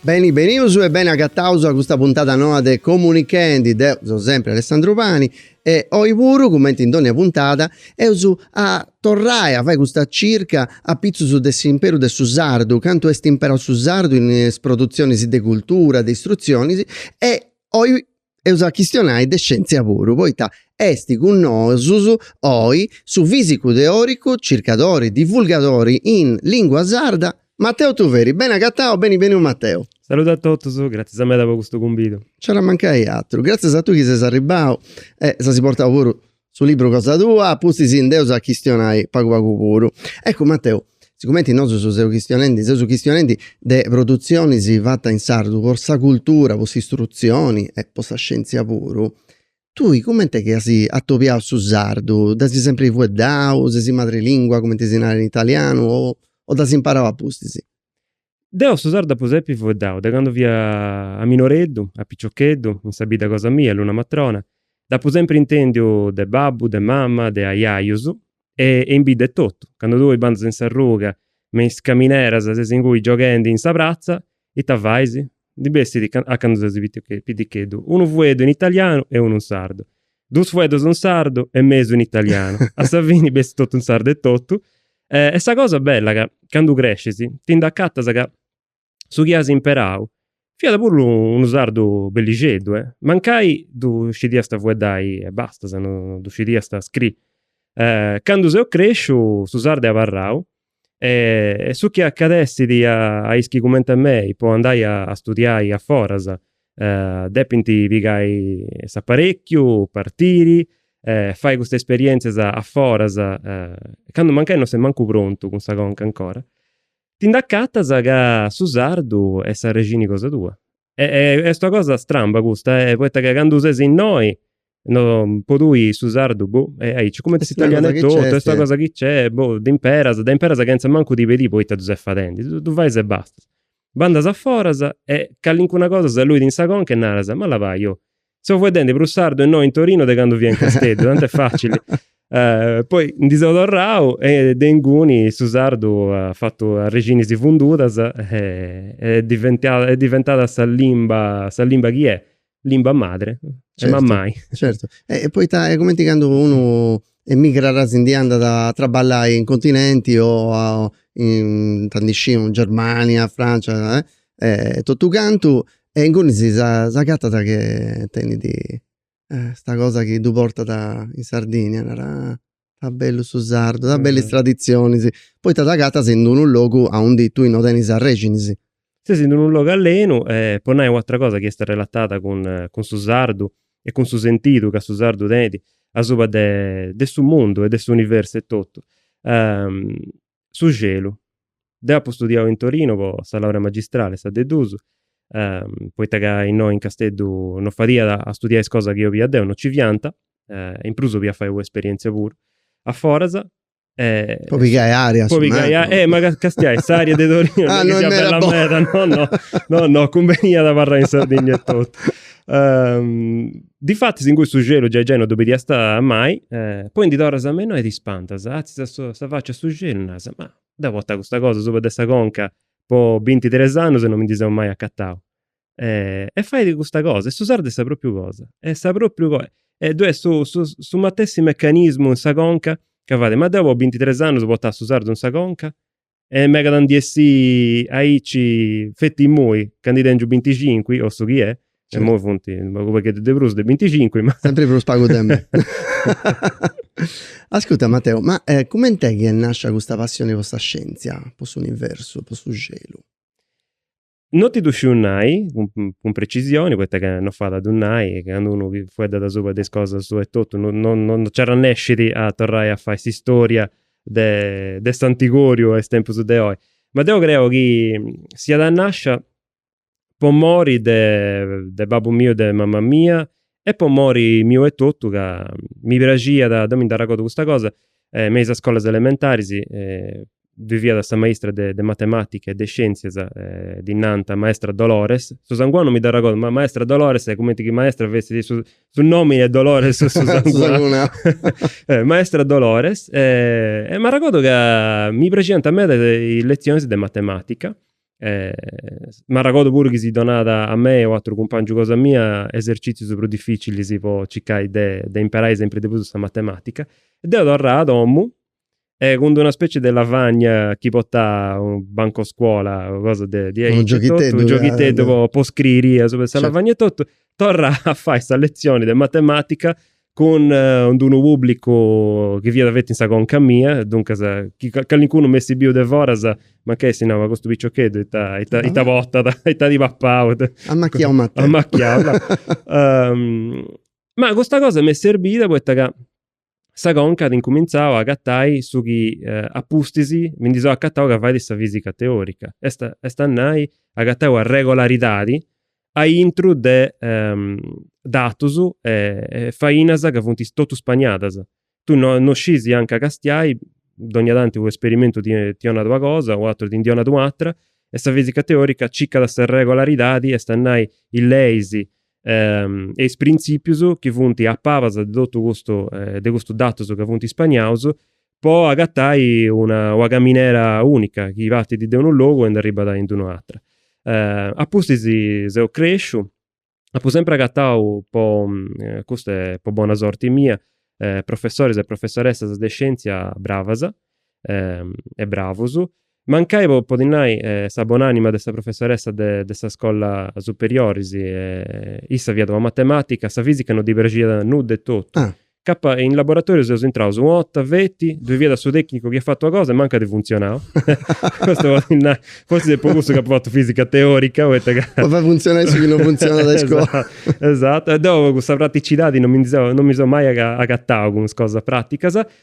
Beni benius e beni agataus a custa puntada noa de Comunichendi, deu seu sempri Alessandru Pani e oi puru, cumenti in dònnia puntada, eus a torrai a fai custa circa apitzus de s'imperu de su sardu, cantu est imperau su sardu in is produtzionis e de cultura, de istrutzionis e oi eus a chistionai de scièntzia puru, poita est cun nosus oi su fìsicu teòricu, circadori, divulgadori in lìngua sarda, Mateu Tuveri. Beni agatau, beni beniu Mateu. Saludu a totus, gratzias meda po custu cumbidu. Nci iat a mancai àteru, gratzias a tui chi ses arribau e si as portau puru Su libru cosa tua, a pustis nd'eus a chistionai pagu pagu puru. Eccu Mateu, sigumenti nosu seus chistionendi, seus chistionendi de produtzionis fatas in sardu po sa cultura, po s'istrutzioni e po sa scientzia puru, tui cumenti est chi as atobiau su sardu, dd'as sempri fueddau, ses madrelingua cumenti si narat in italianu o dd'as imparau a pustis? Deu su sardu dd'apu sempri fueddau, de candu fia minoreddu, piciocheddu, in sa bidda cosa mia, Luna Matrona, dd'apu sempri intèndiu de babbu, de mama, de aiaius e in bidda etotu, candu tui bandas in s'arruga me is camineras ses inguni gioghendi in sa pratza, ita fais? ndi bessit, candu ses piticheddu, unu fueddu in italianu e unu in sardu. Dus fueddus in sardu e mesu in italianu. A sa fini bessit totu in sardu etotu. E, est sa cosa bella ca candu crescis ti nd'acatas ca su chi as imparau fiat puru unu sardu bellixeddu, eh. Mancai ddu scidiast fueddai e bastas, no ddu scidiast scri. Candu seu cresciu su sardu est abarrau E su chi acadessit a is chi cumenti a mei po andai a studiai a foras depint pigai s'aparécchiu, partiri, fai custas esperièntzias a foras, candu mancai non ses mancu prontu cun sa conca ancora, ti nd'acatas ca su sardu est s'arrexini cosa tua. Est una cosa stramba custa, poita ca candu ses innoi No, po tui su sardu, boh, est aici, cumenti s'italianu etotu, est una cosa chi nc'est, boh, ddu imperas, ddu imperas chentza mancu ti pedì poita ddu ses fadendi, ddu fais e basta. Bandas a foras e callincuna cosa si luit in sa conca e naras, ma là, fai, oh, seu fueddendi prus sardu innoi in Torinu de candu fia in Casteddu, tantu est facili. Poi ndi seu torrau e de inguni su sardu at fatu arrexinis fundudas e est diventau, est diventada sa limba, sa limba chi est, limba madre, mammai. Certu, e poita est cumenti candu unu emigrat si ndi andat a traballai in continenti o in ita ndi sciu in Germania, Francia e totu cantu e ingunis si acatat ca tenit custa cosa chi ddu portat in Sardigna, narat Ta bellu su sardu, ta bellu is traditzionis. Poita t'agatas in d'unu logu aundi tui no tenis arrexinis. Ses in d'unu logu allenu e po nai u'atra cosa chi est arrelatada cun cun su sardu e cun su sentidu ca su sardu tenit asuba de de su mundu e de s'universu etotu. su celu. Deu apu studiau in Torinu po sa laurea magistrali, sa de dus, poita ca innoi in Casteddu no fadiat a studiai is cosas chi olia deu, no nci fiant, in prus olia fai una esperientzia puru a foras. Po pigai aria. Po pigai aria, eh ma castiai s'aria de Torinu no est chi siat bella meda, no no, no no, cumbeniat abarrai in Sardigna etotu. Difatis ingui su celu giai giai no ddu bidiast mai, poi ndi torras me innoi e t'ispantas, atzias sa faci a su celu e naras, ma deu portà custa cosa asuba de sa conca po bintitres annus e no mi ndi seu mai acatau. E fait custa cosa, e su sardu est sa propriu cosa, est sa propriu cosa, e ddoi est su su su matessi mecanismu in sa conca ca fait, ma deu po bintitres annus portà su sardu in sa conca E megat a ndi essi aici, feti immoi, ca ndi tengiu binticinqui, o su chi è, e Certu. immoi funti unu pagu pagheddu de prus de binticinqui, ma. Sempri prus pagu de mei. Ascurta Mateu, ma cumenti est chi est nascia custa passioni po sa scientzia, po s'universu, po su celu? No ti ddu sciu nai cun precisioni poita ca no fait a ddu nai e candu unu fueddat asuba de is cosas suas etotu no no no nci arrannescit a torrai a fai s'istória de de s'antigóriu a is tempus de oi. Ma deu creu chi siat nascia po mori de de babbu miu e de mama mia e po mori miu etotu ca mi praxiat, deu mi dd'arragodu custa cosa, me is scolas elementaris ddoi fiat sa maistra de matematica e de scienzias, ddi nant maestra Dolores, su sangunau mi dd'arragodu, ma maestra Dolores est cumenti chi maestra fessit su su nomini e Dolores su sangunau, maestra Dolores e m'arragodu ca mi praxiant meda is is letzionis de matematica M'arragodu puru chi si donàt a mei e u' atru cumpàngiu cosa mia esercìtzius prus dificilis po circai de de imparai sempri de prus sa matemàtica. Deu torrà a domu e cun d'una specie de lavagna chi portà u' bancu 'e scuola o cosa de diaici, u' gioghiteddu, u' gioghiteddu po scriri asuba 'e sa lavagna etotu, torrà a fai sa letzioni de matematica cun unu pùblicu chi fiat feti in sa conca mia, duncas chi calincunu m'essit biu de foras, mancai essit nau, ma custu piciocheddu ita ita ita portat, ita at papau. Amacchiau at a essi. Amacchiau. Ma custa cosa m'est serbida poita ca sa conca at incumintzau a agatai su chi a pustis mi ndi seu acatau ca fait sa fisica teorica, est est a nai, agatai una regolaridadi a intru de datus e fainas ca funt totus spagnadas. Tui no no scis anca castiai, dogna tanti u' esperimentu ti ti 'onat una cosa, u' ateru ti ndi 'onat u' atera e sa fisica teorica circat sa regolaridadi, est a nai is leis e is prinzipius chi funt a pabas de totu custu de custus datus ca funt ispagnaus po agatai una una caminera unica chi partit de unu logu e ndi arribat in d'un' atera. Apustis seu cresciu, apu sempri agatau po, custa est po bona sorti mia, professoris e professoressas de scientzia bravas e bravus Mancai po ti nai sa bon'anima de sa professoressa de de sa scolla superiori, issa fiat una matematica, sa fisica no ddi praxiat nudda etotu. Ah. Ca in laboratoriu seus intraus una 'otta, feti, ddoi fiat su tecnicu chi at fatu una cosa e mancu at funtzionau. Custu po ti nai, forzis est po cussu chi apu fatu fisica teorica poita ca. Po fai funtzionai su chi no funtzionat a iscola. Esatto, e deu cussa praticidadi no mi ndi seu, no mi seu mai agatau cun is cosas praticas.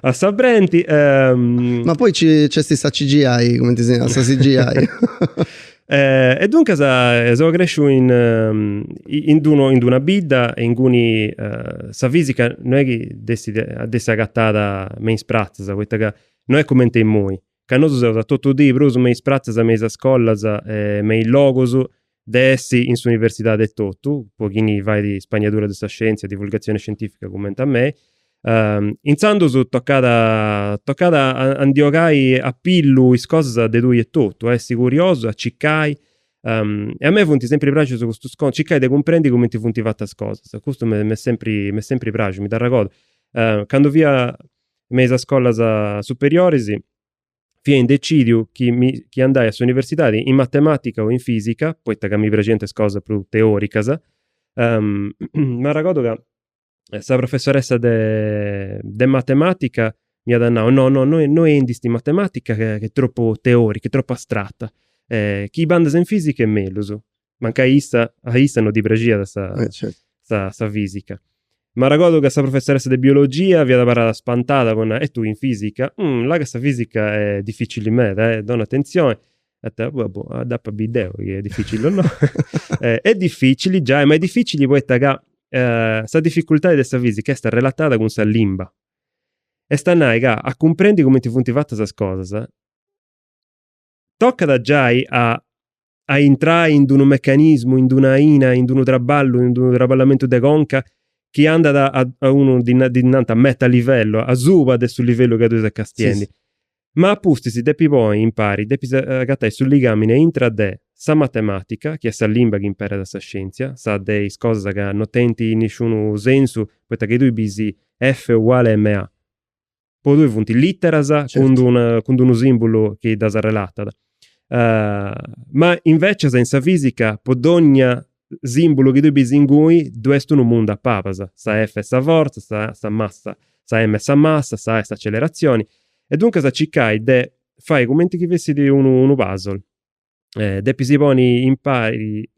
a sa brenti. Ehm... Ma poi nc'est sa CGI, cumenti si narat, sa CGI. Eh, e duncas eh, seu cresciu in, ehm, in, d'una, in una bidda in cui uh, sa fisica non est chi dd'essi, dd'essi agatada me is pratzas, poita ca non est cumenti immoi, ca nosu seus a totu dì prus me is pratzas, me is scolas e me is logus de chi in s'universidadi etotu, po chini fait spagnadura de sa scientzia e divulgatzioni scientifica cumenti a mei. Intzandus tocat tocat a ndi 'ogai a pillu is cosas de tui etotu, a essi curiosu, a circai e a mei funt sempri praxius custus contus, circai de cumprendi cumenti funt fatas is cosas, custu m'est sempri m'est sempri praxiu, mi dd'arregordu candu fia me is scolas superioris, fia indecidiu chi mi chi andai a s'universidadi in matematica o in fisica, poita ca mi praxiant is cosas prus teoricas. M'arragodu ca sa professoressa de de matematica m'iat nau, no no no no andist in matematica ca est tropu teorica, est tropu astrata, chi bandas in fisica est mellus. mancai a issa, a issa no ddi praxiat sa, eh, certo. sa, sa fisica. M'arragodu ca sa professoressa de biologia fiat abarrada spantada po nai, e tui in fisica? Mm, là ca sa fisica est dificili meda, eh, dona atentzioni. Ah, vabbè, dd'apu a biri deu chi est dificili o no. eh, est dificili, giai, ma est dificili poita ca eh, sa dificultadi de sa fisica est relatada cun sa limba. Est a nai ca a cumprendi cumenti funt fatas is cosas tocat giai a a intrai in d'unu mecanismu, in d'una aina, in d'unu traballu, in d'unu traballamentu de conca chi andat a a unu ddi ddi nant meta livello, asuba de su livellu ca tui ses castiendi. Ma a pustis depis ponni impari, depis agatai su ligamini a intra de sa matematica, chi est sa limba chi imperat sa scienzia, sa de is cosas ca no tenint nisciunu sensu poita chi tui bis F uguale MA. po tui funt literas certo. cun d'unu simbulu chi ddas relatat. Uh, ma invecias in sa fisica po dogna simbulu chi tui bis inguni ddu est unu mundu a palas, sa F est sa fortza, sa, sa massa, sa M est sa massa, sa A est s'accelerazioni, e duncas circai de fai cumenti chi fessit unu, unu puzzle. depis poni impari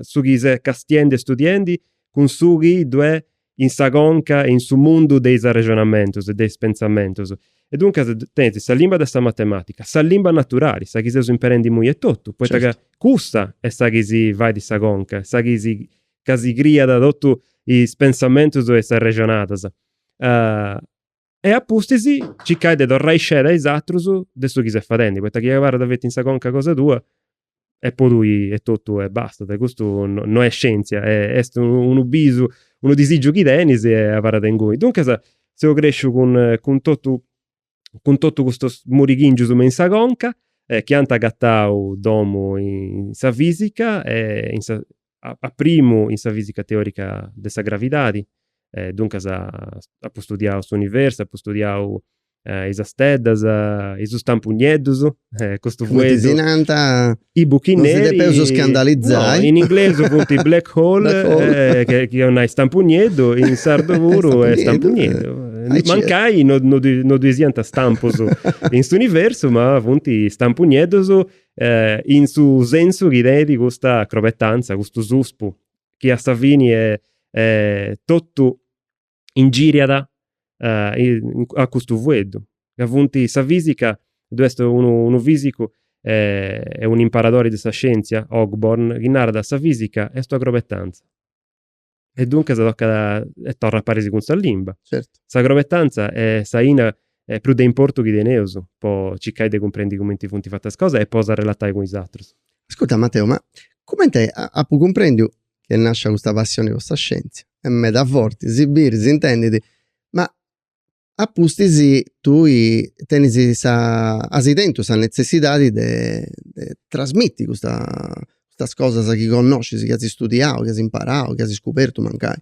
su chi ses castiendi e studiendi cun su chi ddu est in sa conca e in su mundu de is arrexonamentus e de is pentzamentus. E duncas tenis sa limba de sa matematica, sa limba naturali, sa chi seus imperendi imui etotu, poita ca cussa est sa chi si fait sa conca, sa chi si, ca si criat totus is pentzamentus e is arrexonadas. E a pustis circai de torrai sceda a is atrus de su chi ses fadendi, poita chi abarrat feti in sa conca cosa tua e po tui etotu e bastat. Custu no est scientzia, est unu bisu, unu disigiu chi tenis e abarrat inguni. Duncas seu cresciu cun cun totu cun totu custus murighingius me in sa conca chi ant agatau domu in sa fisica e in sa a primu in sa fisica teorica de sa gravidadi, duncas apu studiau s'universu, apu studiau is steddas, is stampunieddus, custu fueddu, cumenti si nant, i buchi neri, non si depeus scandalizai, no, in inglesu funt black hole, chi 'olit nai stampunieddu, in sardu puru est stampunieddu, mancai no nci siant stampus in s'universu ma funt stampunieddus E in su sensu chi tenit custa acrobetanza, custu suspu chi a sa fini est totu ingiriat a custu fueddu, ca funti sa fisica ddu est unu fisicu e un'imparadori de sa scientzia Ogborn chi narat sa fisica est un'acrobetanza. E duncas tocat e torrat a paris cun sa limba. Certu. S'acrobetanza est s'aina prus de importu chi teneus po circai de cumprendi cumenti funt fatas is cosas e po ddas arrelatai cun is atrus. Ascurta Mateu, ma cumenti apu cumprendiu chi est nascia custa passioni po sa scientzia? Est meda forti, si bit, si intendit, ma a pustis tui tenis sa as tentu sa netzessidadi de de trasmitti custa custas cosas chi connoscis chi as istudiau chi as imparau chi as scubertu mancai.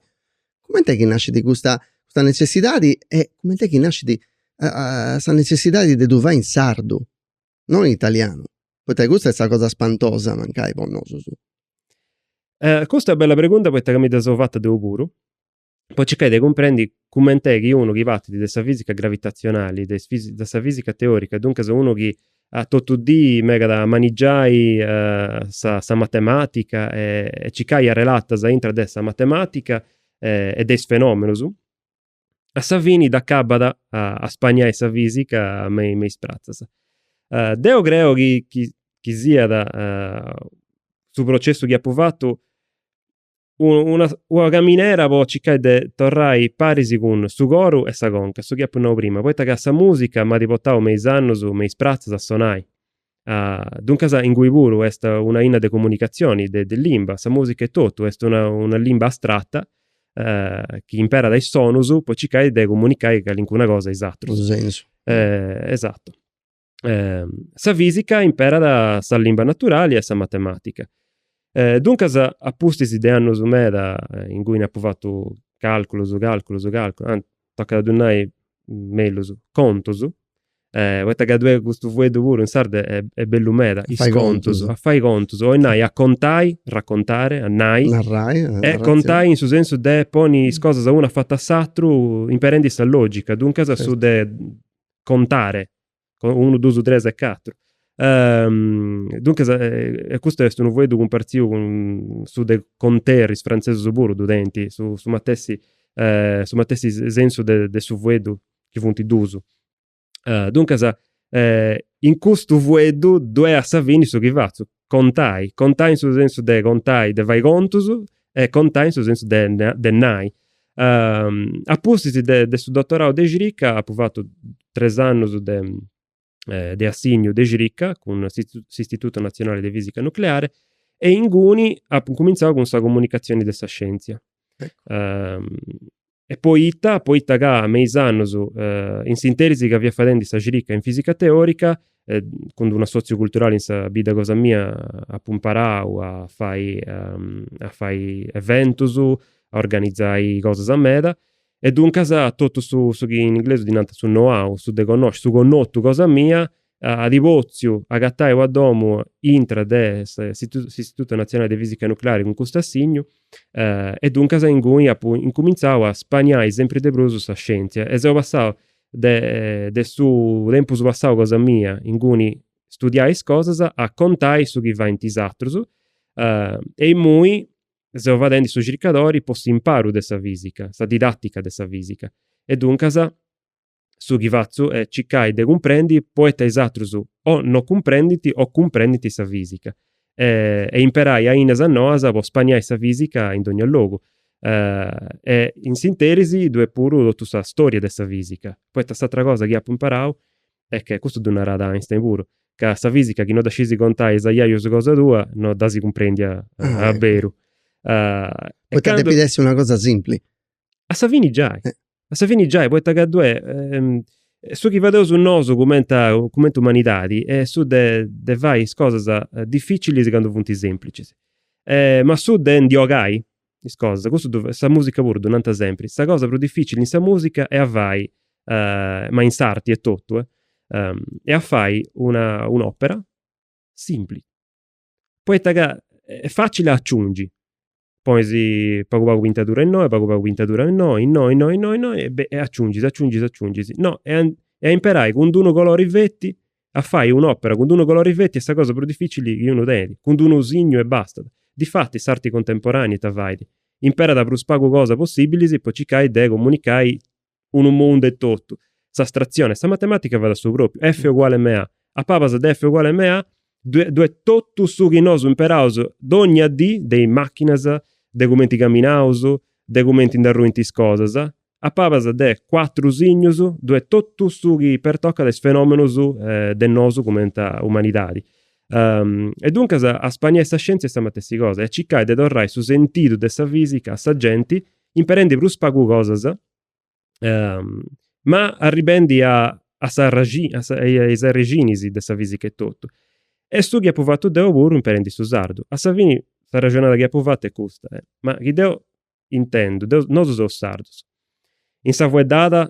Cumenti est chi nascit custa custa netzessidadi e cumenti est chi nascit sa netzessidadi de ddu fai in sardu non in italianu poita custa est sa cosa spantosa mancai po nosus. Custa est bella pregunta poita ca mi dda seu fata deu puru po circai de cumprendi cument'è chi unu chi partit de sa fisica gravitatzionali, de de sa fisica teorica, duncas unu chi totu dì megat de manigiai sa sa matematica e circai arrelatas aintra de sa matematica e de is fenomenus, a sa fini dd'acabat a spainai sa fisica me me is pratzas. Deu creu chi chi siat su processu chi apu fatu una, una caminera po circai de torrai paris cun su coru e sa conca, su chi apu nau prima, poita ca sa musica m'at portau me is annus me is pratzas a sonai, duncas ingui puru est una lìnia de comunicazioni, de limba, sa musica etotu est una una limba astrata chi imperat is sonus po circai de comunicai calincuna cosa a is atrus. Esatto sa fìsica imperat sa limba naturali e sa matemàtica. Duncas a pustis de annus meda inguni nd'apu fatu càlculus, càlculus, càlculus, anti, tocat a ddu nai mellus, contus, poita ca ddue custu fueddu puru in sardu est bellu meda, is contus, a fai contus, oi nai a contai, raccontare, a nai, narrai, e contai in su sensu de ponni is cosas unu afatu a s'aturu imperendi sa logica, duncas su de contare, unu dusu tres e catru. Duncas e custu est unu fueddu cumpartziu cun su de conter, is frantzesus puru ddu tenint su su matessi su matessi sensu de de su fueddu chi funt dusu. Duncas in custu fueddu ddu'est a sa fini su chi fatzu, contai, contai in su sensu de contai, de fai contus, e contai in su sensu de, de nai. Uh, a pustis de, de su dottorau de cirica apu fatu tres annus de, eh, de assignu de cirica cun s'Istituto Nazionale de Fisica Nucleare e inguni apu incumintzau cun sa comunicatzioni de sa scientzia. e poita, poita ca me is annus in s'interis ca fia fadendi sa cirica in fisica teorica e cun d'unu assotziu culturali in sa bidda cosa mia apu imparau a fai a fai eventus, a organizai cosas meda E duncas totu su, su chi in inglesu ddi nant su know-how, su de connosci, su connotu cosa mia, at potziu agatai una domu intra de s'Istituto Nazionale de Fisica Nucleare cun custu assignu, e duncas inguni apu incumintzau a spaniai sempri de prus sa scientzia e seu passau de de su tempus passau cosa mia, inguni studiai is cosas, a contai su chi faint is atrus e imui seu fadendi su circadori po s'imparu de sa fìsica, sa didàtica de sa fìsica, e duncas su chi fatzu est circai de cumprendi poita is atrus o no cumprendint o cumprendint sa fìsica e imperai ainas noas po spaniai sa fìsica in dogna logu. E in s'interis dd'est puru totu sa storia de sa fìsica, poita s'atra cosa chi apu imparau Est chi custu ddu narat Einstein puru, ca sa fisica chi no dda scisi contai a is aiaius cosa tua, no dd'as cumprendia a a beru. Poita depit essi una cosa simpli. A sa fini giai, a sa fini giai, poita ca ddu est su chi fadeus nosu cumenti a cumenti umanidadi est su de de fai is cosas dificilis candu funt semplicis. Ma su de ndi ogai, is cosas, custu ddu fait, sa musica puru ddu nanta sempri, sa cosa prus dificili in sa musica est a fai ma in s'arti etotu est a fai una un'opera simpli, poita ca est facili a aciungi, ponis pagu pagu pintadura innoi pagu pagu pintadura innoi innoi innoi innoi innoi e aciungis aciungis aciungis no est a imperai cun d'unu colori feti A fai un'òpera cun unu colori feti est sa cosa prus dificili chi unu tenit, cun unu signu e bastat. Difatis s'arti contemporanea ita fait? Imperat prus pagu cosa possibili po circai de comunicai unu mundu etotu, s'astrazione, sa matematica fait a su propriu, F uguale ma, a pabas de F uguale ma ddu est totu su chi nosu imperaus dogna dì de is machinas, de cumenti caminaus, de cumenti nd'arruint is cosas, A pabas de cuatru signus dd'est totu su chi pertocat is fenómenus de nosu cumenti a umanidadi. E duncas a spaniai sa sciéntzia est sa matessi cosa, est a circai de torrai su sentidu de sa física a sa genti imperendi prus pagu cosas ma arribendi a sa a is arixinis de sa física etotu. Est su chi apu fatu deu puru imperendi su sardu. A sa fini s'arrexonada chi apu fatu est custa, ma chi deu intendu, deu, nosu seus sardus. In sa fueddada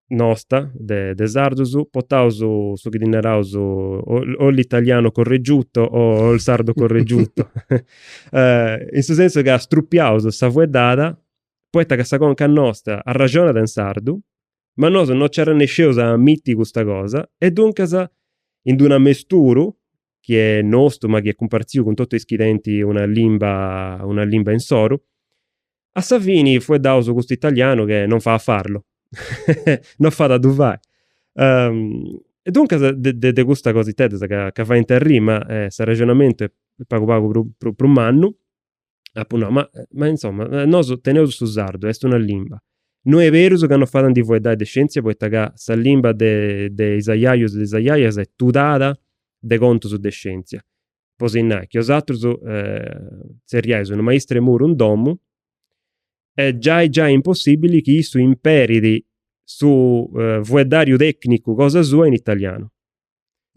nosta de de sardus potaus su chi ddi naraus o o l'italiano correggiuto o o il sardo correggiuto in su sensu ca strupiaus sa fueddada poita ca sa conca nosta arraxonat in sardu ma nosu no nci arrennesceus a amitti custa cosa e duncas in d'unu amesturu chi est nostu ma chi est cumpartziu cun totu is dischentis una limba, una limba insoru. A sa fini fueddaus custu italianu che non fait a farlo, non fait a ddu fai. E duncas de de custa cositeddas ca faint arriri ma s'arrexonamentu est pagu pagu prus mannu, Apu nau, ma ma insoma, nosu teneus su sardu, est una limba. No est berus ca non fait a ndi fueddai de scientzia poita ca sa limba de de is ajajus e de is ajajas est tudada de contus de scientzia. Po si nai chi bosatrus tzerriais unu maistu 'e muru in domu e giai giai est impossibili chi issu imperit su fueddariu tecnicu cosa sua in italianu.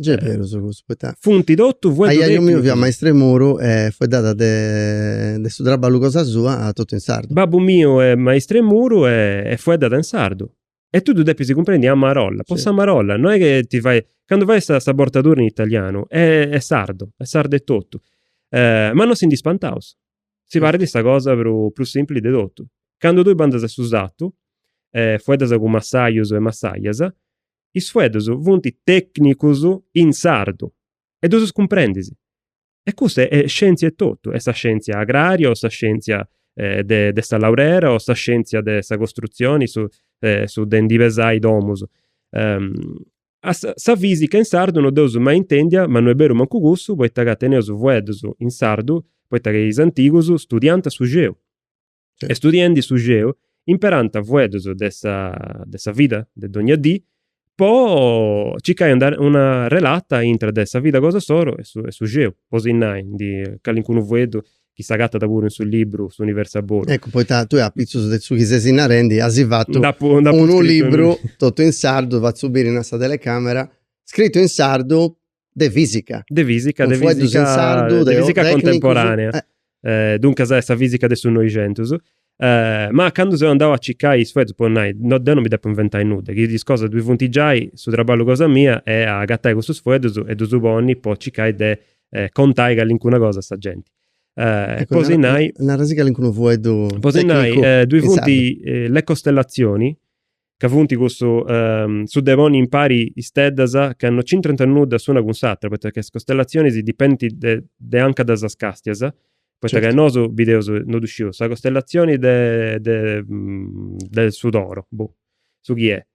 Gei est berus cussu, poita funt totu fueddus tecnicus. Aiaju miu fiat maistru 'e muru e fueddàt de su traballu cosa sua totu in sardu. Babbu miu est maistru 'e muru e fueddat in sardu. E tui ddu depis cumprendi, a marolla, po s'amarolla, no est chi ti fait, candu fait sa sa bortadura in italianu est sardu, est sardu etotu. Ma no si ndi spantaus, si parit sa cosa prus prus simpli de totu. Candu tui bandas a su sartu e fueddas cun massajus e massajas, is fueddus funt tècnicus in sardu e ddus cumprendis. E cussa est scièntzia etotu, est sa scièntzia agrària o sa scièntzia de de sa laurera o sa scièntzia de sa costrutzioni, su su de ndi pesai domus. A sa sa fìsica in sardu no dd'eus mai intèndia ma no est beru mancu cussu poita ca teneus fueddus in sardu poita ca is antigus studiànt su celu. Sì. E studiendi su celu, imperànt fueddus de sa, de sa vida de dogna dì, po circai una, una relata intra de sa vida cosa insoru e su, e su celu, po si nai, ndi, calincunu fueddu chi s'agatat puru in su libru S'universu a bolu. Eccu, poita tui apitzus de su chi sesi narendi asi fatu Nd'apu, nd'apu scrittu unu libru totu in sardu, fatzu biri innoi a sa telecamera, scrittu in sardu de fisica. De fisica, de fisica, de fisica contemporanea. Eh. duncas est sa fisica de su Noixentus. Eh, ma candu seu andau a circai is fueddus, po nai, no, deu no mi depu inventai nudda, chi is cosas ddui funt giai, su traballu cosa mia est a agatai cussus fueddus e ddus ponni po circai de contai callincuna cosa a sa genti. Eh, po si nai. Nara-sì calincunu fueddu tecnicu. Po si nai, ddui funt le costellazioni, ca funt cussu, su de ponni impari isteddas ca no nc'intrant nudda s'una cun s'atra, poita ca is costellatzionis dipendint de de anca ddas castias, poita ca nosu bideus, no ddu sciu, sa costellatzioni de de de su toro, boh, su chi est,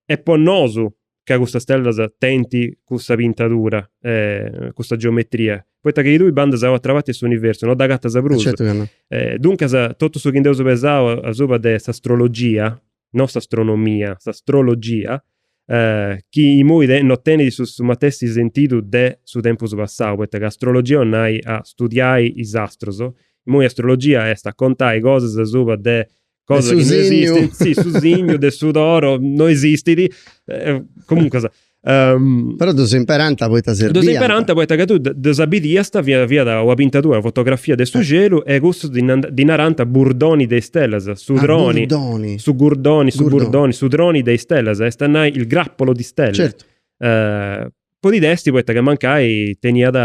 e po nosu ca custas stellas tenint custa pintadura e custa geometria, poita chi chi tui bandas a otra parti 'e s'universu no dd'agatas prus. Certu chi no. Eh, duncas, totu su chi nd'eus pesau asuba de s'astrologia, no s'astronomia, s'astrologia, eh, chi imui te- no tenit su matessi sentidu de su tempus passau, poita ca astrologia 'olit nai a studiai is astrus, imui astrologia est a contai cosas asuba de de cosas chi no esistint, sì, su signu de su toro no esistit, eh, comuncas. Um, Però ddus imperanta poita serbiant. Ddus imperanta poita ca tui ddus bidiasta, fiat, fiat una pintatura, una fotografia de su eh. celu e cussus ddi narant burdoni de istellas, su ah, droni, burdoni. su gurdoni, su burdoni, su droni de istellas, est a nai il grappolo di stelle. Certo. Uh, Podit essi poita ca mancai teniat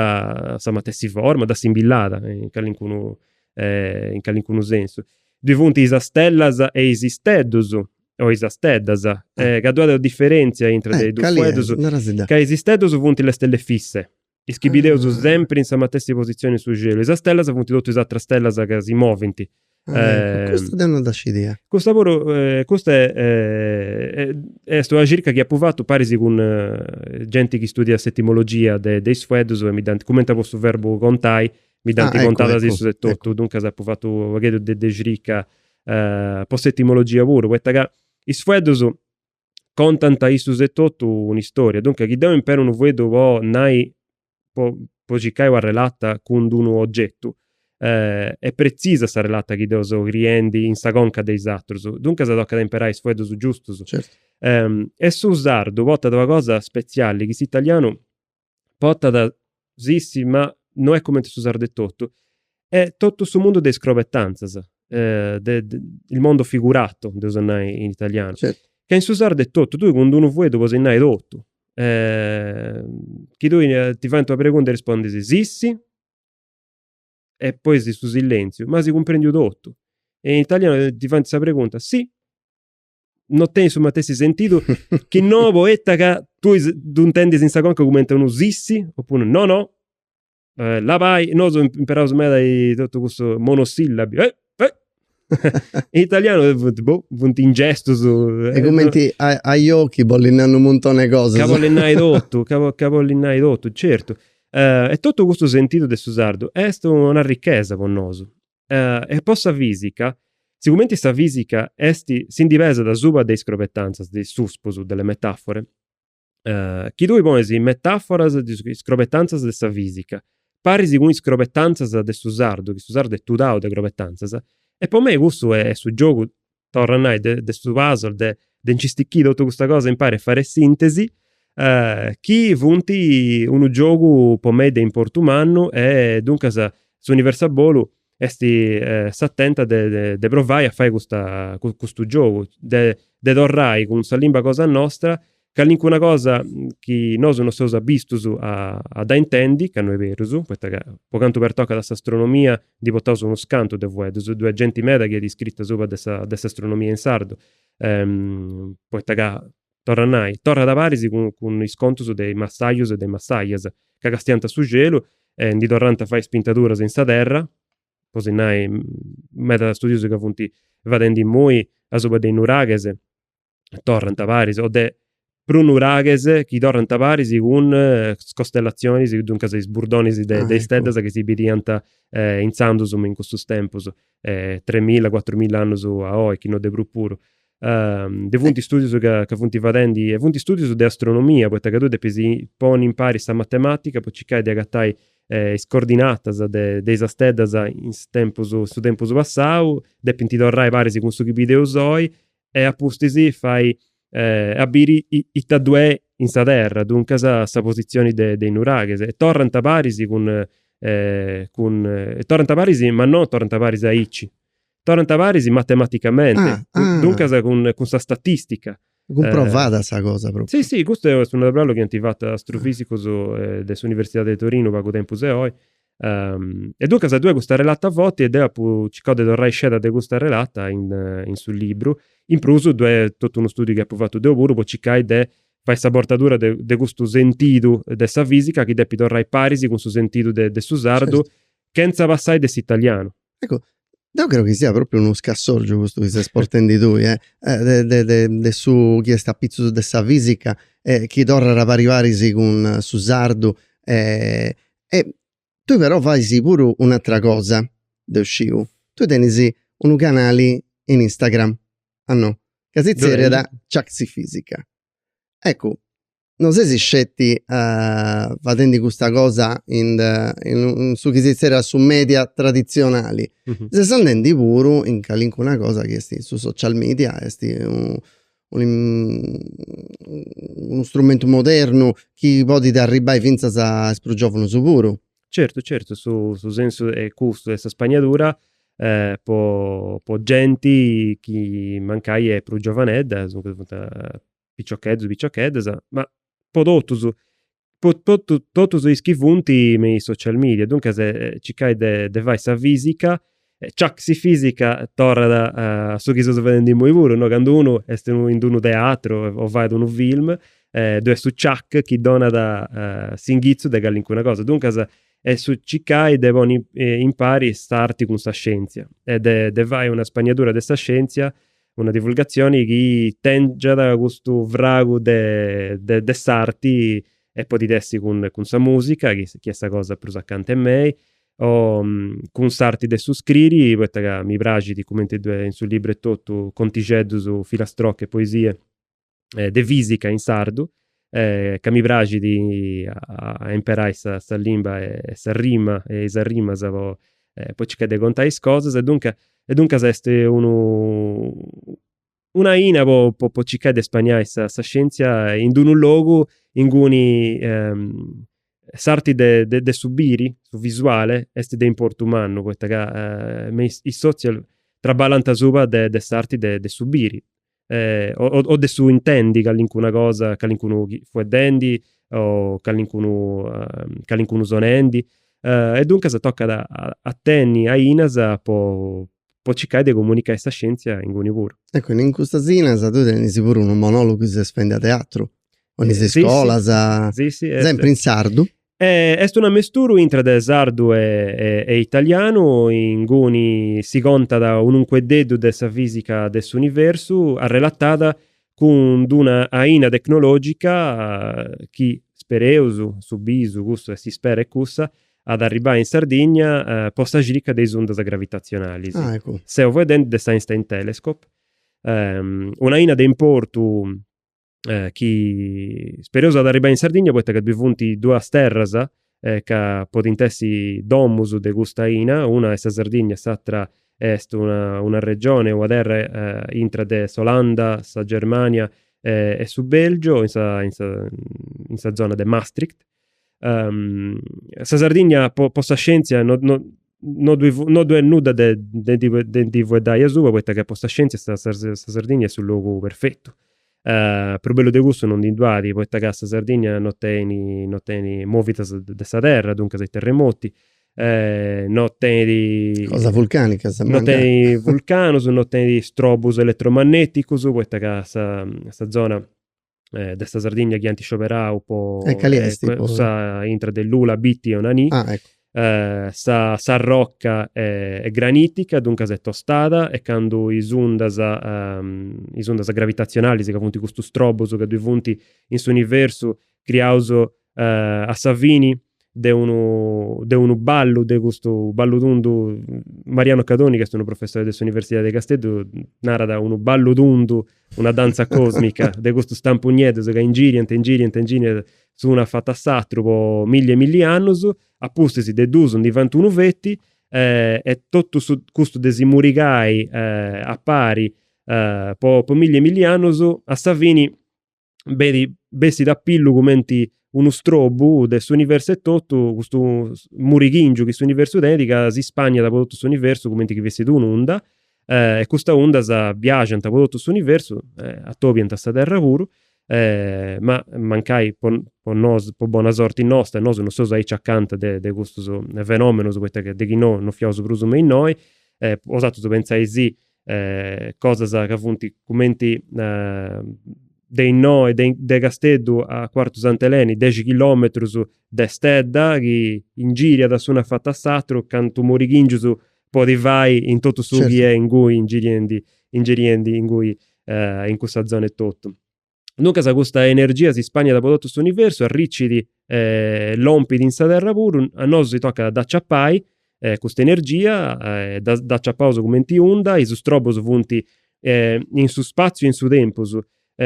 sa matessi forma, dda simbillàda in calincunu in calincunu sensu. Ddoi funt is astellas e is isteddus, o is isteddas, ca ddoi at una diferèntzia intra de is dus fueddus, ca is isteddus funt le stelle fisse, is chi bideus sempri in sa matessi positzioni in su celu, is astellas funt totu is ateras stellas ca si movint, Custa deu no dda scidia. Custa puru, custa est una circa chi apu fatu paris cun genti chi studiat s'etimologia de is fueddus e mi dd'ant, cumenti a po su verbu contai, mi dd'ant contada issus etotu, duncas apu fatu u' pagheddu de circa po s'etimologia puru, poita ca is fueddus contant issus etotu un'istoria, duncas chi deu imperu unu fueddu po nai po po circai una relata cun d'unu ogetu est pretzisa sa relata chi deu seu criendi in sa conca de is atrus, duncas tocat a imperai is fueddus giustus. Certu. E su sardu portat una cosa spetziali chi s'italianu portat sissi ma no est cumenti in su sardu etotu est totu su mundu de is crobetantzas il mondo figurato deus nai in italianu ca in su sardu etotu tui cun d'unu fueddu podis nai totu chi tui ti faint una pregunta e rispondis sì e poi su sillenziu ma si cumprendiu totu e in italianu ti faint sa pregunta si no tenit su matessi sentidu chi no poita ca tui ddu intendis in sa conca cumenti unu sissi opuru no no eh, labai, nosu imperaus meda totu cussu monosillabi eh, eh. in italianu funt, boh, funt in gestus. Est cumenti ajò chi bolit nai unu muntoni 'e cosas. Ca bolit nai totu, ca bolit nai totu, certu. Uh, e totu custu sentidu de su sardu est un'arrichesa po nosu. Eh, e po sa fìsica, sigumenti sa fìsica est, si ndi pesat asuba de is crobetantzas, de is suspus, de le metafore, eh, chi tui ponis is metàforas, is crobetantzas de sa fìsica, paris cun is crobetantzas de su sardu, chi su sardu est tudau de crobetantzas, e po mei cussu est su giogu torra nai, de su puzzle, de nci stichiri totu custa cosa impari a fai sintesi, chi funt unu giogu po mei de importu mannu e duncas s'Universo a bolu est s'atenta de de provai a fai custa custu giogu, de torrai cun sa limba cosa nostra Calincuna cosa chi nosu non seus abistus a a dda intendi, ca no est berus, poita ca po cantu pertocat a s'astronomia ndi portaus unus cantus de fueddus, ddoi est genti meda chi at iscritu asuba de sa de s'astronomia in sardu, poita ca, torru a nai, torrat paris cun cun is contus de is massajus e de is massajas, ca castiant su celu e ndi torrant a fai is pintaduras in sa terra, po si nai, meda studius ca funt fadendi imoi asuba de is nuraghes, torrant paris o de prus nuraghes chi torrant paris cun is costellatzionis, duncas is burdonis de is steddas chi si bidiant intzandus me in custus tempus, tremilla cuatrumilla annus a oi, chi no de prus puru. ndi funt studius ca funt fadendi, e funt studius de astronomia, poita ca tui depis ponni impari sa matematica po circai de agatai is cordinatas de is steddas in is tempus, in su tempus passau, depint torrai paris cun su chi bideus oi e a pustis fai a biri ita ddoi est in sa terra, duncas sa positzioni de is nuraghes. E torrant paris cun cun torrant paris ma non torrant paris aici, torrant paris matematicamenti, duncas cun cun sa statistica. Cumprovada sa cosa propriu. Si si, custu est unu traballu chi ant fatu astrofisicus de s'universidadi de Torinu pagu tempus a oi E duncas ddoi est custa relata forti e deu apu circau de torrai sceda de custa relata in su libru, in prus ddoi est totu unu studiu chi apu fatu deu puru po circai de fai sa portadura de custu sentidu de sa fisica chi depit torrai paris cun su sentidu de su sardu chentza passai de s'italianu. Eccu, deu creu chi siat propriu unu scassorgiu custu chi ses portendi tui, eh, de de de de su chi est apitzus de sa fisica e chi torrat a paris paris cun su sardu e tui però fais puru un'atera cosa, deu sciu, tui tenis unu canali in Instagram, a no, ca si zerriat Ciaxifisica. Eccu, no ses sceti fadendi custa cosa in de in su chi si zerriat su media traditzionali, ses andendi puru in calincuna cosa chi est in su social media, est unu strumentu modernu chi podit arribbai fintzas a is prus giovanus puru. Certu certu su su sensu est custu de sa spagnadura po po genti chi mancai est prus giovanedda, duncas funt piciocheddus piciocheddas, ma po totus, po totu totus is chi funt me is social media, duncas circai de fai sa fisica, ciac si fisica! torrat a su chi seus fadendi imui puru, no, candu unu est in d'unu teatru o fait unu film ddoi est su ciac chi donat s'inghitzu de callincuna cosa, duncas est su circai de ponni impari s'arti cun sa scienzia e de de fai una spagnadura de sa scienzia Una divulgatzioni chi tèngiat custu fragu de de s'arti e podit essi cun cun sa mùsica, chi est sa cosa prus acanta 'e mei, o cun s'arti de su scriri, poita ca mi praxit cumenti ddoi est in su libru etotu, contixeddus, filastrocche, poesie, de fisica in sardu, ca mi praxit a imperai sa limba e sa rima e is arrimas po po circai de contai is cosas e duncas e duncas est unu una aina po po circai de spaniai sa scientzia in d'unu logu inguni s'arti de de su biri, su visuale, est de importu mannu, poita ca me is is social traballant asuba de s'arti de su biri o de su intendi callincuna cosa, callincunu fueddendi o callincunu sonendi. E duncas tocat a tenni ainas po po circai de comunicai sa scienzia inguni puru. Ecco, in custas ainas tui tenis puru unu monologu chi ses fendi a teatru, in is iscolas, sempri in sardu? Est un ammesturu intra de sardu e italianu, inguni si contat unu ncueddeddu de sa fisica de s'universu arrelatada cun d'una aina tecnologica chi, spereus, su bisu cussu e s'ispera est cussa, at a arribai in Sardigna po sa circa de is undas gravitatzionalis. Seu fueddendi de s'Einstein Telescope, un'aina de importu chi spereus at a arribbai in Sardigna poita ca ddoi funt duas terras ca podint essi domus de custa aina, una est sa Sardigna e s'atera est una una regioni, una terra intra de s'Olanda, sa Germania e su Belgiu in sa in sa zona de Maastricht Um, sa Sardigna, po, po sa scientzia, no, no, no ddoi, no ddoi est nudda de, de, de, de, ndi fueddai asuba, poita ca po sa scientzia sa, sa, sa Sardigna est su logu perfetu. Uh, prus bellu de cussu no ndi ddoi at, poita ca sa Sardigna no tenit, no tenit movidas de sa terra, duncas is terremoti, eh, no tenit... Cosa vulcanica, sa No tenit vulcanus, no tenit strobus elettromagneticus, poita ca sa, sa zona de sa Sardigna chi ant scioberau po calest intra de Lula, Bitti e Onanì, ah s'arroca est granitica, duncas est tostada e candu is undas is undas gravitatzionalis ca funt custus strobus ca ddoi funt in s'universu criaus a sa fini de unu de unu ballu, de custu ballu tundu, Mariano Cadoni ch'est unu professore de s'Universidade de Casteddu narat unu ballu tundu, una danza cosmica de custus stampus nieddus ca ingiriant ingiriant ingiriant s'unu avatu a s'àturu po milli e milli annus, a pustis de duus ndi fant unu feti e totu custu de si murigai a pari po milli e milli annus a sa fini beti bessit a pillu cumenti unu strobu de s'universu etotu, custu murighingiu chi s'universu tenit ca si spàniat po totu s'universu cumenti chi fessit un'unda e custas undas biaxant po totu s'universu, atobiant a sa terra puru ma mancai po po nosu, po bona sorti nosta, nosu non seus aici acanta de de custus fenomenus poita de chi no non fiaus prus me innoi, bosatrus pentzai-sì cosas ca funt cumenti de innoi, de de Casteddu a Cuartu Sant'Eleni, dexi chilometrus de stedda chi ingìriat s'unu afatu a s'aturu cantu murighìngiu podit fai in totu su chi est inguni ingiriendi ingiriendi inguni in cussa zona etotu. Duncas custa energia si spàniat po totu s'universu, arricit e lompit in sa terra puru, a nosu si tocat a dd'aciapai custa energia, dd'aciapaus cumenti unda, is strobus funt in su spatziu e in su tempus,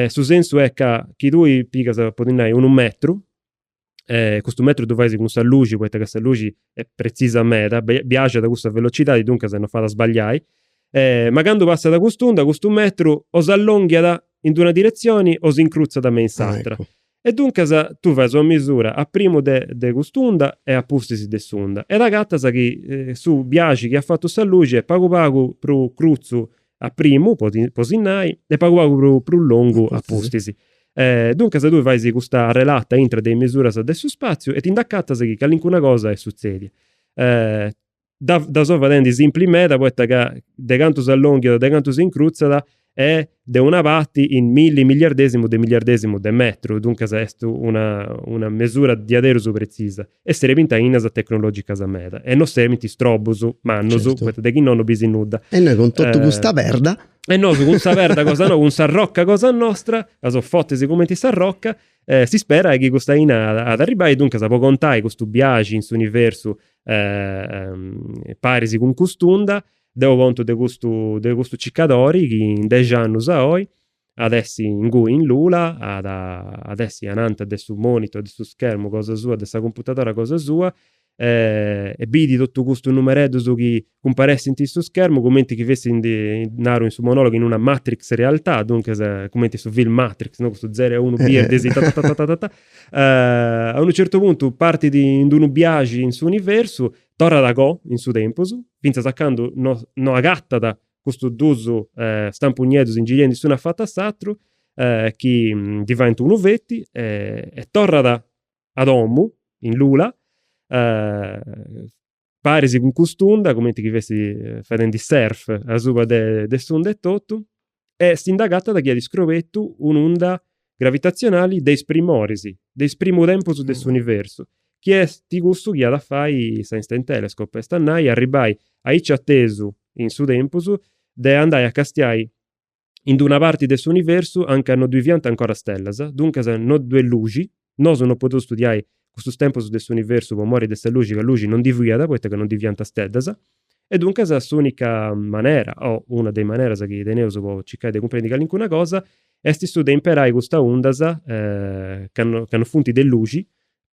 su sensu est ca chi tui pigas, po ti nai, unu metru, e custu metru ddu fais cun sa luxi poita ca sa luxi est pretzisa meda, biaxat a cussa velocidadi, duncas non fait a sbagliai, ma candu passat cust'unda, custu metru o s'allonghiat in d'una diretzioni o s'incrutzat me in s'atra. E duncas tui fais una misura a primu de de cust'unda e a pustis de s'unda e t'acatas chi su biaxi chi at fatu sa luxi est pagu pagu prus crutzu a primu, po po si nai, e pagu pagu prus prus longu a pustis. Duncas tui fais custa arrelata intra de is misuras de su spatziu e ti nd'acatas chi calincuna cosa est sutzèdia. Dda dda so fadendi simpli meda poita ca de cantu s'allònghiat, de cantu s'incrutzat est de una parti in milli miliardèsimu de miliardèsimu de metru, duncas est una una mesura diaderus pretzisa. e serbint ainas tecnològicas meda e no serbint strobus mannus, poita de chi no no bis nudda. E noi cun totu custa perda. E nosu cun sa perda cosa no, cun s'arroca cosa nostra, ca seus fortis cumenti s'arroca, s'isperai chi custa aina at arribbai e duncas po contai custu biaxi in s'universu paris cun cust'unda, deu contu de custu de custu circadori chi in dexi annus a oi At essi ingui in Lula, at at essi ananta de su monitor, de su schermu cosa sua, de sa cumputadora cosa sua, e bidit totu custus numereddus chi cumparessint in su schermu cumenti chi fessint, naru in su monologu, in una matrix realtà, duncas cumenti su film Matrix, no, custus zero e unu birdis tatatatatata. A unu certu puntu partit in d'unu biaxi in s'universu, torrat a coa in su tempus, fintzas a candu no no agatat custus dus stampus nieddus ingiriendi s'unu afatu a s'atru chi ndi faint unu feti e torrat a domu in Lula paris cun cust'unda cumenti chi fessit fadendi surf asuba de s'unda etotu e si nd'agatat chi at iscrobetu un'unda gravitatzionali de is primoris, de is primu tempus de s'universu, chi est cussu chi at a fai s'Einstein Telescope, est a nai arribbai aici atesu in su tempus de andai a castiai in d'una parti de s'universu a nca no ddui fiant ancora stellas, duncas no ddu est luxi, nosu no podeus studiai cussus tempus de s'universu po mori de sa luxi ca luxi non ndi fiat poita ca non ndi fiant steddas e duncas s'unica manera o una de is maneras chi teneus po circai de cumprendi calincuna cosa est su de imperai custas undas ca no funt de luxi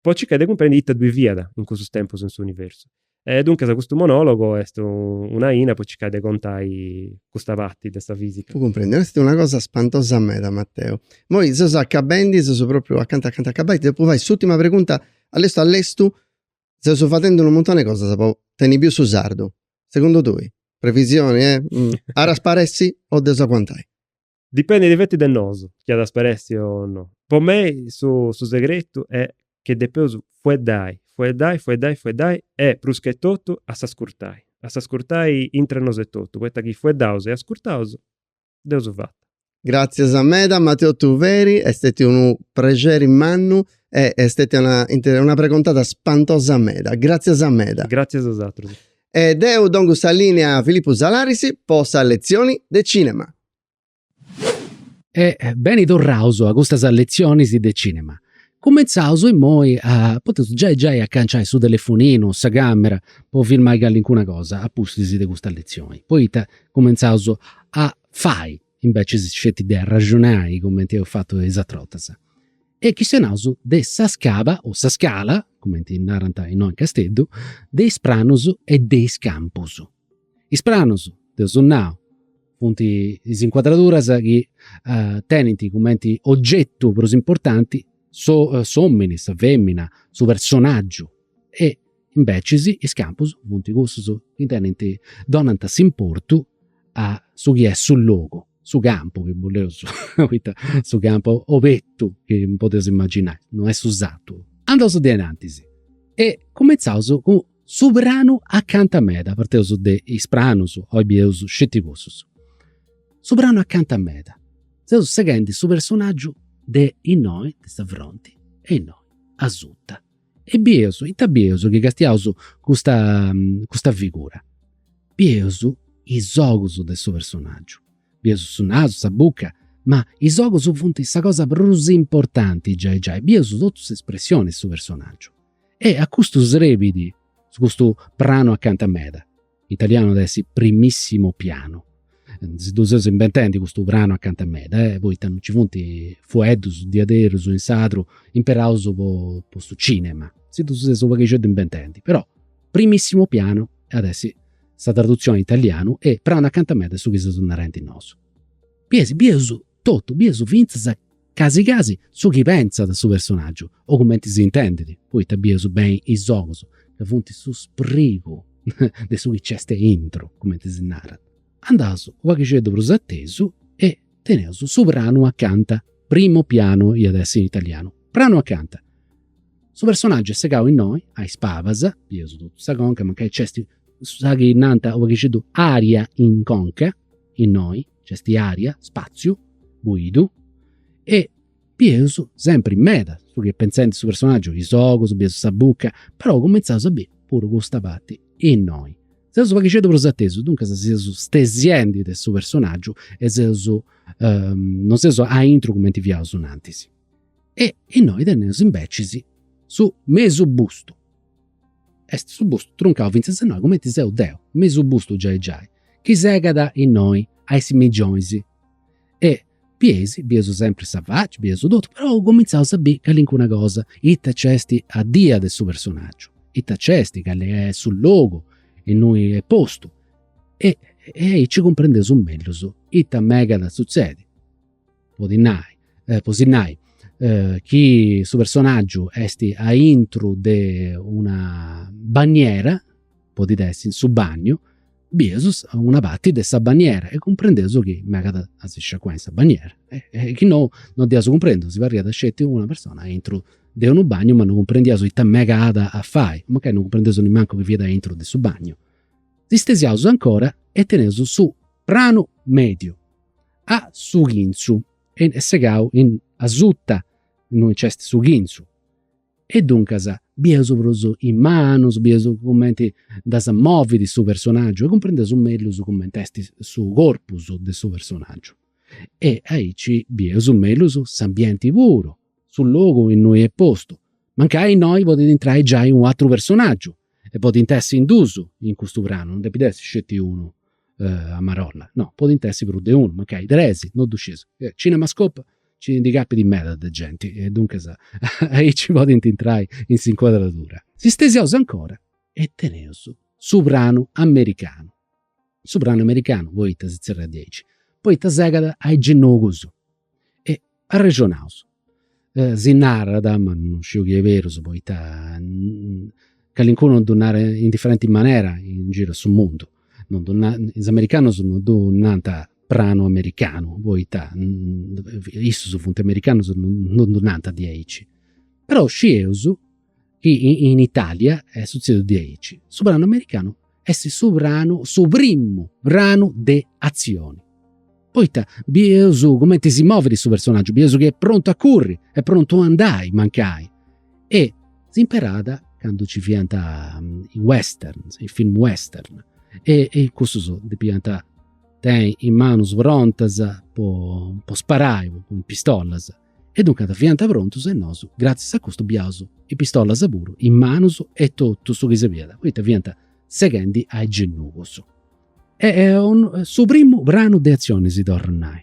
po circai de cumprendi ita ddui fiat in cussus tempus in s'universu E duncas custu monologo est un'aina po circai de contai custa parti de sa fisica. Apu cumprèndiu, est una cosa spantosa meda Matteo. Moi seus acabendi, seus propriu acanta acanta acabai, ti depu fai s'ultima pregunta, a lestu a lestu seus fadendi unu muntoni 'e cosas po tenni biu su sardu, segundu tui, previsioni, eh, at a sparessi o dd'eus a aguantai? Dipendit feti de nosu chi at a sparèssi o no. Po mei su su segretu est chi depeus fueddai, fueddai, fueddai, fueddai e pruschetotu a s'ascurtai, a s'ascurtai intre nosu etotu, poita chi fueddaus e ascurtaus dd'eus fata. Gràtzias meda Matteo Tuveri, est stètiu unu prexeri mannu e est stètia una inter una pregontada spantosa meda. Gràtzias meda. Gràtzias a bosatrus. E deu dongu sa lìnia a Filippu Salaris po sa letzioni de cìnema. E beni torraus a custas letzionis de cinema. Cumentzaus immoi a, podeus giai giai acanciai su telefoninu, sa camera, po filmai callincuna cosa a pustis de custa letzioni. Poita cumentzaus a fai, imbecis sceti de arraxonai cumenti eus fatu is atras bortas. E chistionaus de sa scaba o sa scala, cumenti narant innoi in Casteddu, de is pranus e de is campus. Is pranus dd'eus nau Funt is incuadraduras chi tenint cumenti ogetu prus importanti s'omini, sa femina, su personaggiu e imbecis is campus funt cussus chi tenint, donant s'importu a su chi est su logu, su campu, chi boleus est su campu obertu chi podeus imaginai, no est su sartu. Andaus diai in antis e cumintzaus cun Su pranu acanta meda, parteus de is pranus, oi bieus sceti cussus. Su pranu acanta meda, seus seghendi su personaggiu de innoi, de sa fronti, e innoi, asuta. E bieus, ita bieus chi castiaus custa custa figura? Bieus is ogus de su personaggiu, bieus su nasu, sa buca, ma is ogus funt sa cosa prus importanti giai giai, bieus totu s'espressioni de su personaggiu. E a custu srebit, su custu pranu acanta meda. In italianu at essi primissimo piano. Si ddu seus imbentendi custu pranu acanta meda, eh, poita non nci funt fueddus diaderus in sadru imperaus po po su cinema. Si ddu seus u' paghixeddu imbentendi. Però primissimo piano at essi sa tradutzioni in italianu e pranu acanta meda est su chi seus narenti nosu. Bieus, bius Totu bius fintzas casi casi su chi pentzat su personàgiu, o cumenti si intendit, poita bius beni is ogus ca funt su sprigu de su chi nc'est aintru, cumenti si narat. Andaus u' paghixeddu prus a tesu e teneus su pranu acanta, primo piano iat essi in italianu, pranu acanta. Su personàgiu est segau innoi, a is pabas, bius totu sa conca, mancai nc'est sa chi nant u' paghixeddu aria in conca, innoi, Nc'est aria, spàtziu buidu e bius sempri meda su chi est pentzendi su personaggiu, is ogus, bius sa buca, però cumintzaus a biri puru custa parti innoi. Seus u' paghixeddu prus atesu, duncas seus stesiendi de su personaggiu e seus, non seus aintru cumenti fiaus in antis. E innoi teneus imbecis su mesu bustu Est su bustu truncau fintzas innoi cumenti seu deu, mesu bustu giai giai, chi segat innoi a is simingionis. E bieis, bieus sempri sa faci, bieus totu, però cumintzaus a biri calincuna cosa, ita nc'est addia de su personaggiu, ita nc'est, cali est su logu innui est postu. E aici cumprendeus mellus ita megat a sutzedi. podit nai, po si nai, chi su personaggiu est aintru de una banniera, podit essi in su bagnu, bius una parti de sa banniera e cumprendeus chi megat a si sciacuai in sa banniera e chi nou non dd'iaus cumprendiu, si parriat sceti una persona aintru de unu bagnu ma non cumprendiaus ita megat a fai, mancai non cumprendiaus nemmancu chi fiat aintru de su bagnu. Si stesiaus ancora e teneus su pranu mediu a su chintzu e est segau in asuta innui nc'est su chintzu. E duncas bieus prus is manus, bieus cumenti ddas movit su personaggiu e cumprendeus mellus cumenti est su corpus de su personaggiu. E aici bieus mellus s'ambienti puru, su logu innui est postu. Mancai innoi podit intrai giai un'atru personaggiu e podint essi in duus in custu pranu, non depit essi sceti unu a marolla, no, podint essi prus de unu, mancai tres, no ddu scieus. Cinemascope nci ndi capit meda de genti e duncas aici podint intrai in s'incuadradura. Si stesiaus ancora e teneus su pranu americanu, su pranu americanu poita si zerriat diaici, poita segat a is genugus E arrexonaus, si narat, ma non sciu chi est berus poita calincunu ddu narat in diferenti manera in giru a su mundu, non ddu nant, is americanus non ddu nant pranu americanu poita issus funt americanus e non ddu nant diaici. Però scieus chi in Italia est sutzèsiu diaici. Su pranu americanu est su pranu, su primu pranu de atzioni, poita bieus cumenti si movit su personaggiu, bieus chi est prontu a curri, est prontu a andai mancai e s'imperàt candu nci fiant is western, is film western e e cussus depiant tenni is manus prontas po sparai cun is pistolas E duncas fiant prontus e nosu, gràtzias a custu, biaus is pistolas puru is manus e totu su chi serbìat poita fiant seghendi a is genugus. Est su primu pranu de atzioni, si torru a nai.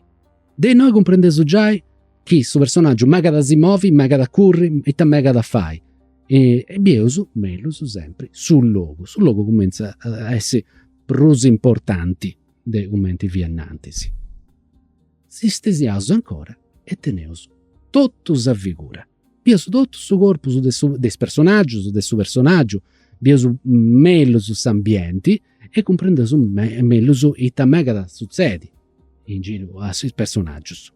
De innoi cumprendeus giai chi su personaggiu megat a si movi, megat a curri, ita megat a fai. E bieus mellus sempri su logu, su logu cumenzat a essi prus importanti de cumenti fiat innantis. Si stesiaus ancora e teneus totu sa figura. Bieus totu su corpus de su de is personaggius, de su personaggiu, bieus mellus s'ambienti e cumprendeus mellus ita megat a sutzedi in giru a is personaggius.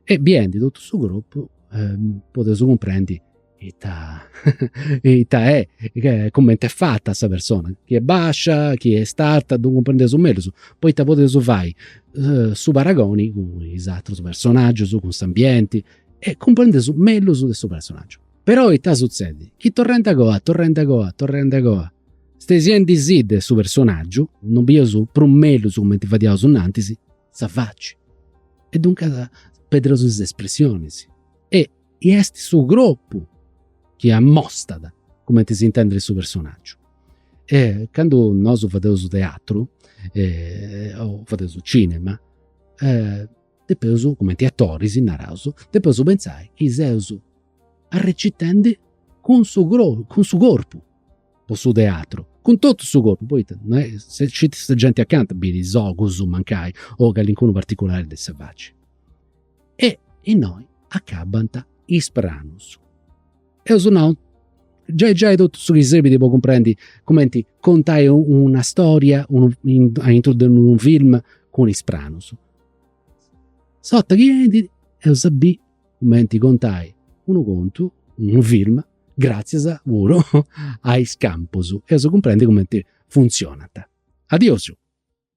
E biendi totu su corpus podeus cumprendi Ita ita est, cumenti est fata sa persona, chi est bàscia, chi est arta, ddu cumprendeus mellus, poita podeus fai su paragoni cun is atrus personaggius, cun s'ambienti e cumprendeus mellus de su personaggiu. Però ita sutzedit, chi torrendi a goa, torrendi a goa, torrendi a goa, stesiendi·sì de su personaggiu, non bius prus mellus cumenti fadiaus in antis, sa faci e duncas perdus is espressionis e e est su cropu chi ammostat cumenti s'intendet su personaggiu. E candu nosu fadeus teatru o fadeus cinema depeus, cumenti atoris naraus, depeus pentzai chi seus arrecitendi cun su cropu, cun su corpu po su teatru, cun totu su corpu, poita non est, si scit sa genti acanta bint is ogus mancai o calincunu particulari de sa faci E innoi acabant is pranus. Eus nau, giai giai totu su chi serbit po cumprendi cumenti contai una storia aintru de unu film cun is pranus. S'orta chi enit eus a biri cumenti contai unu contu, unu film, gratzias puru a is campus. Eus a cumprendi cumenti funtzionant. Adiosu